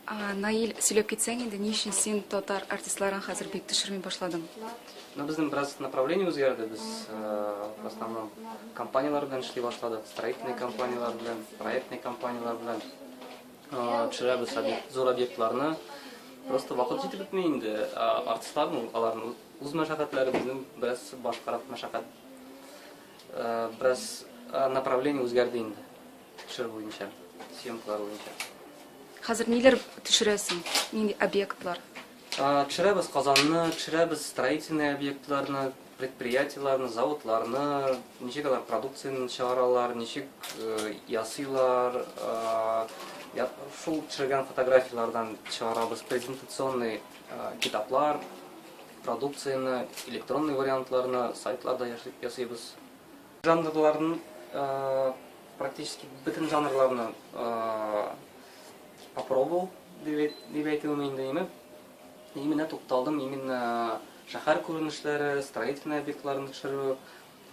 Наил, сөйләп китсәң инде, ни өчен син татар артистларын хәзер бик төшерми башладың? Ну, безнең бераз направление үзгәрде. Без э, в основном компанияләр белән эшли башладык, строительный компанияләр белән, проектный компанияләр белән э, төшерәбез зур объектларны. Просто вакыт җитеп бетми инде. Э, артистларны, аларның үз мәшәкатьләре безнең бераз башкарак мәшәкать. Бераз направление үзгәрде инде. Төшерү буенча, съемкалар буенча. Хәзер ниләр төшерәсең? Нинди объектлар? Төшерәбез Казанны, төшерәбез строительный объектларны, предприятиеларны, заводларны, ничек алар продукцияне чыгаралар, ничек э, ясыйлар, э, шул төшергән фотографиялардан чыгарабыз презентационный э, китаплар, продукцияне, электронный вариантларны сайтларда ясыйбыз. Жанрларын практически бөтен жанрларны попробовал дип әйтүем инде име. Именно тукталдым именно шәһәр күренешләре, строительный объектларны төшерү.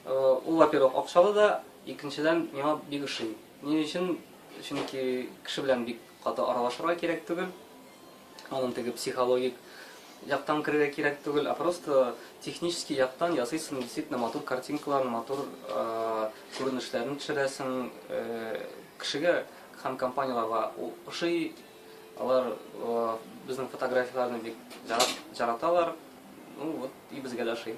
Ул, во-первых, акчалы да, икенчедән, миңа бик ошый. Ни өчен? Чөнки кеше белән бик каты аралашырга кирәк түгел. Аның теге психологик яктан керергә кирәк түгел, а просто технический яктан ясыйсың действительно матур картинкаларын, матур күренешләрен төшерәсең. Кешегә һәм компанияләргә ошый, алар безнең фотографияләрне бик яраталар. Ну вот и безгә дә ошый.